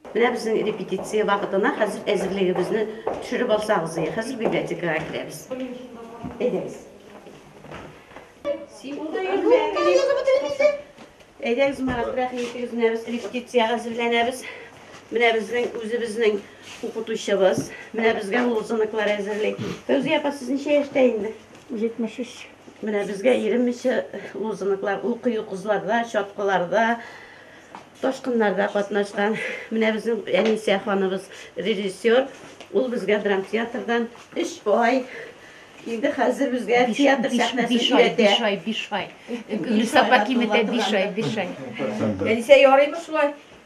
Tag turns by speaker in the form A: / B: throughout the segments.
A: Менә безнең репетиция вакытына хәзер әзерлегебезне төшереп алсагыз, хәзер библиотекага керәбез. Әйдәгез. Әйдәгез, Марат, рәхмәтегез менә без репетициягә әзерләнәбез. Менә безнең үзебезнең укытучыбыз, менә безгә лозунглар әзерли. Фәүзия апа, сез ничә яшьтә инде? 73.
B: Менә безгә
A: иремичә лозунглар укый укызларда, чаткыларда, ташкыннарда катнашкан. Менә безнең Әнисә ханыбыз режиссер. Ул безгә драмтеатрдан 3 ай инде хәзер безгә театр сәхнәсен өйрәтә. Биш ай, биш ай.
B: Гөлсапа киметә биш ай, биш ай. Әнисә
C: ярыймы шулай?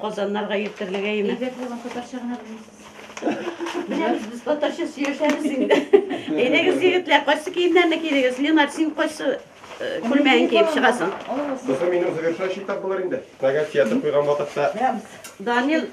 A: Казаннарга йөртерлегә име? Әйбәт булган татарча гына белмисез. Беләбез, без татарча сөйләшәбез инде. Әйдәгез, егетләр, кайсы киемнәрне кидегез? Ленар, син кайсы күлмәген киеп чыгасың? Кызым, минем
D: завершающий этап булыр инде. Тагы театр куйган вакытта. Данил,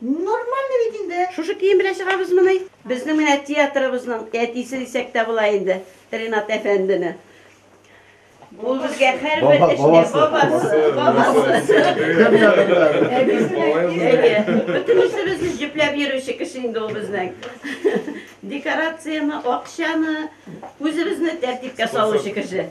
A: Нормально
E: бит инде. Шушы кием белән
A: чыгабызмыни? Безнең менә театрыбызның әтисе дисәк тә була инде, Ринат әфәндене. Ул безгә һәрбер эшне бабасы, бабасы. Кем ягында? Әйе, бөтен эшебезне җөпләп йөрүче кеше инде ул безнең. Декорацияне, акчаны, үзебезне тәртипкә салучы кеше.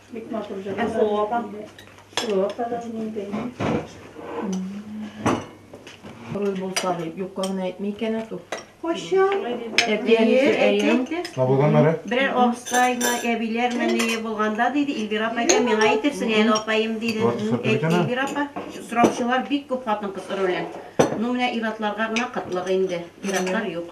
F: Бик матур җыр. Һәм соло апа. Соло апа да
C: минем бәйнем. Руль булса дип, юкка гына әйтми икән ату.
E: Кайчан?
A: Табылган мәрә? Берәр абыстайны, әбиләрме ни булганда диде, Эльвира апа икән, миңа әйтерсең әле апаем диде. Эльвира апа, сораучылар бик күп хатын-кыз ролен. Ну, менә иратларга гына кытлык инде. Иратлар юк.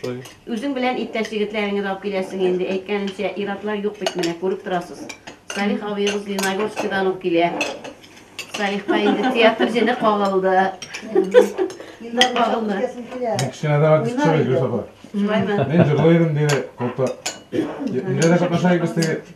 A: Шулай. Үзең
G: белән иптәш
A: егетләреңне дә алып киләсең инде. Әйткәнемчә, ир-атлар юк бит менә, күреп торасыз. Салих абыегыз Леногорскидан ук килә. Салихка инде театр җене кагылды. Кагылды.
H: Мин кечкенәдән артист чыгар идем, Гөлсафа. Шулаймы? Мин җырлый
A: идем, диде
H: Колта. Нигә дә катнаша идек без теге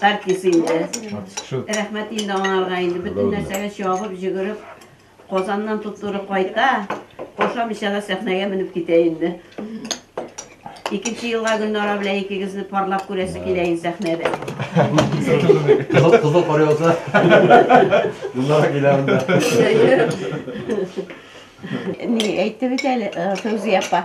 H: Артист инде. Рәхмәт инде аңарга
A: инде. Бөтен нәрсәгә чабып, җөгереп, Казаннан туп-туры кайта, ашамыйча да сәхнәгә менеп китә инде. Икенче елга Гөлнара белән икегезне парлап күрәсе килә инде сәхнәдә. Кызыл,
I: кызыл кар яуса, Гөлнара килә монда.
A: Ни әйтте бит әле э, Фәүзия апа?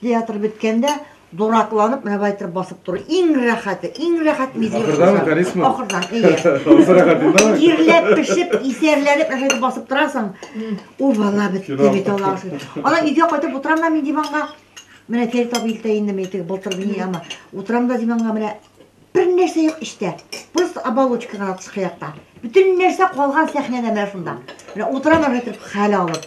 E: Театр беткәндә дуракланып, менә байтыр басып тору. Иң рәхәте, иң рәхәт мизгел. Ахырдан механизм. Ахырдан, әйе.
H: Ирләп пешеп,
E: исәрләнеп, әшәй дип басып торасың. Ул бала бетте бит аласы. Ана өйгә кайтып утырам да мин диванга. Менә Фәрит абый илтә инде мин теге былтыр ни ама. Утырам да диванга менә бер нәрсә юк эчтә. Просто оболочка гына тышкы якта. Бөтен нәрсә калган сәхнәдә менә шунда. Менә утырам әшәй хәл алып.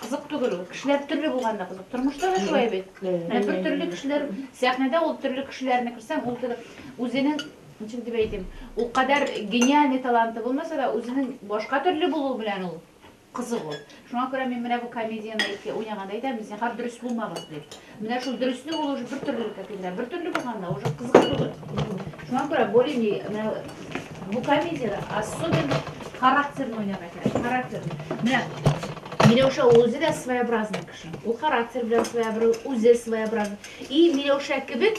B: Кызык түгел ул. Кешеләр төрле булганда кызык. Тормышта да шулай бит. Ә бер төрле кешеләр, сәхнәдә ул төрле кешеләрне күрсәң, ул кебек үзенең ничек дип әйтим, ул кадәр гениальный таланты булмаса да, үзенең башка төрле булуы белән ул кызык ул. Шуңа күрә мин менә бу комедияне әйтә, уйнаганда әйтәм, зинһар дөрес булмагыз дип. Менә шул дөреслек ул уже бертөрлелек әтиләр. Бертөрле булганда уже кызык түгел. Шуңа күрә более менә бу комедиядә особенно характерны уйнарга кирәк. Характер. Менә Миләүшә үзе дә своеобразный кеше. Ул характер белән своеобразный, үзе своеобразный. И Миләүшә кебек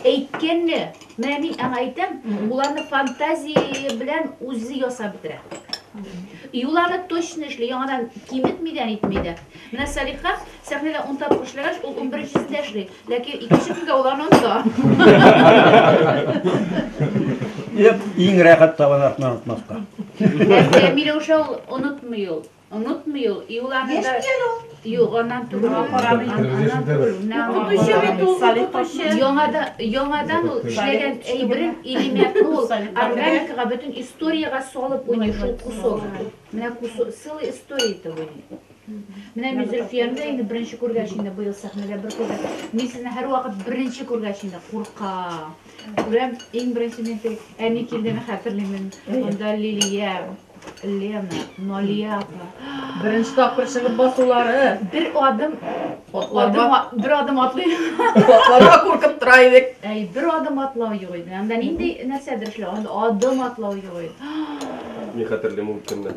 B: әйткәнне, менә мин аңа әйтәм, ул аны фантазия белән үзе ясап бетерә. И ул аны точно эшли, яңадан киметми дә, әйтми дә. Менә Салиха Сәхнәдә ун тапкыр эшләгәч, ул унберенчесендә эшли, ләкин икенче көнгә ул аны оныта.
J: Еп, иң рәхәт табан артына онытмаска.
B: Ләкин Миләүшә ул онытмый ул. Онытмый ул. И ул аны да... Юк, аннан түгел. Аннан түгел. Укытучы бит ул, укытучы. Яңада, яңадан ул эшләгән әйберен Илимятны ул органикага, бөтен историягә салып уйный шул кусок. Менә кусок, целая история итеп уйный. Менә мин Зөлфияне дә инде беренче күргәч инде быел сәхнәдә бер күрдем. Мин сезне һәрвакыт беренче күргәч инде курка. Күрәм, иң беренче мин теге әни килдене хәтерлимен. Монда Лилия, Лена, Налия апа. Беренче
C: тапкыр чыгып басулары. Бер адым
B: Атларга, адым, бер адым атлый. атларга
C: куркып тора идек. Әй, бер адым атлау
B: юк иде. Анда нинди нәрсәдер эшләү, анда адым атлау юк иде.
D: Мин хәтерлим ул көнне.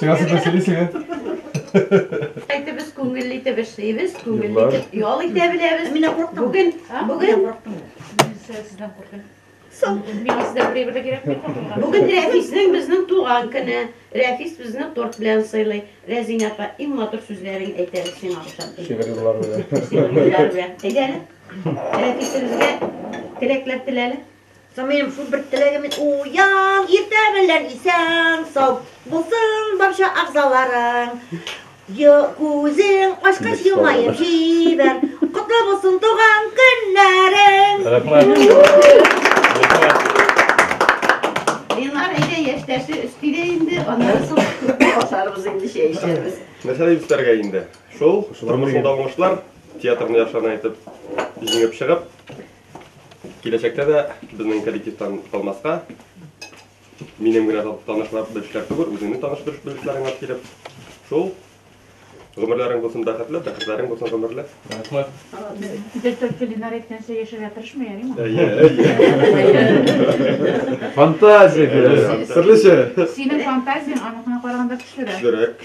H: Чыгасы да сөйлисең, ә?
A: Әйтебез, күңелле итеп эшлибез, күңелле итеп ял итә беләбез. Мин курыктым. Бүген, бүген курыктым. Мин
B: сездән куркам. Соң. Мин сездән прибыль кирәк дип куркам. Бүген Рәфиснең
A: безнең туган көне. Рәфис безне торт белән сыйлый. Рәзинә апа, иң матур сүзләрен әйтә сиңа ошап. Шигырь юллар
H: белән. Әйдә
A: әле. Рәфисебезгә теләкләр теләле. Самыем шул бер
E: теләгем уян, иртә белән исән сау булсын барча агзаларың. Күзең ачкач елмаеп җибәр, котлы булсын туган көннәрең. Ленар әйдә яшьтәше өстигә инде, аннан соң
A: басарбыз инде чәй эчәрбез. Нәрсә дип өстәргә
D: инде? Шул, тормышында уңышлар, театрны яхшыдан әйтеп, җиңеп чыгып, Киләчәктә дә безнең коллективтан калмаска, минем генә танышлап белешләр түгел, үзеңне таныш белешләрең алып килеп, шул гомерләрең булсын бәхетле, бәхетләрең булсын гомерле. Рәхмәт.
G: Директор
B: кулинар әйткәнчә яшәргә тырышмый, ярыймы? Әйе, әйе.
I: Фантазия бирә. Серлечә. Синең
D: фантазияң
B: аныкына караганда көчлерәк. Көчлерәк.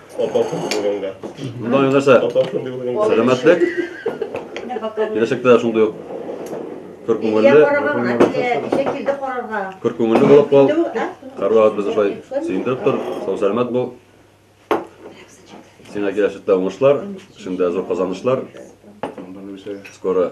I: Мындай нәрсә сәламәтлек, киләчәктә шундый ук көр күңелле, көр күңелле булып кал. Һәрвакыт безне шулай сөендереп тор, сау сәламәт бул. Сиңа киләчәктә уңышлар, эшендә зур казанышлар. Скоро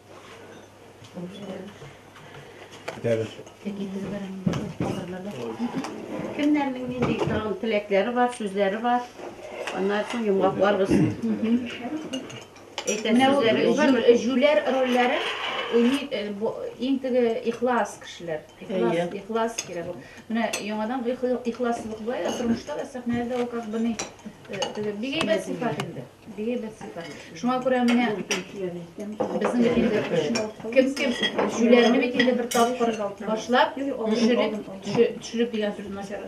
A: Кемнәрнең нинди тагын теләкләре бар, сүзләре бар. Аннан соң йомгакларбыз. Әйтә Менә
B: ул сүзләрегез бар. җү- җүләр рольләре уйный э, бу- иң теге ихлас кешеләр. Ихлас, Әйе. ихлас кирәк. ул. Менә яңадан бу ихла- ихласлык була, ә тормышта да сәхнәдә дә ул как бы ни, э, теге бик әйбәт сыйфат инде. Диабет сыйфат. Шуңа күрә менә безнең бит инде кем кем җүләрне бит инде бер тапкыр башлап, төшереп, төшереп дигән сүз начар.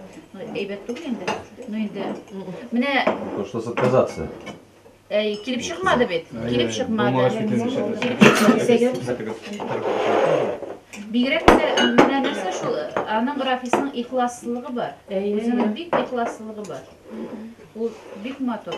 B: Әйбәт түгел инде. Ну инде. Менә Пришлось
I: отказаться. Әй,
B: килеп чыкмады бит. Килеп чыкмады. Килеп чыкмады. Бигрәк тә менә нәрсә шул, аның Рафисның ихласлыгы бар. Үзенең бик ихласлыгы бар. Ул бик матур.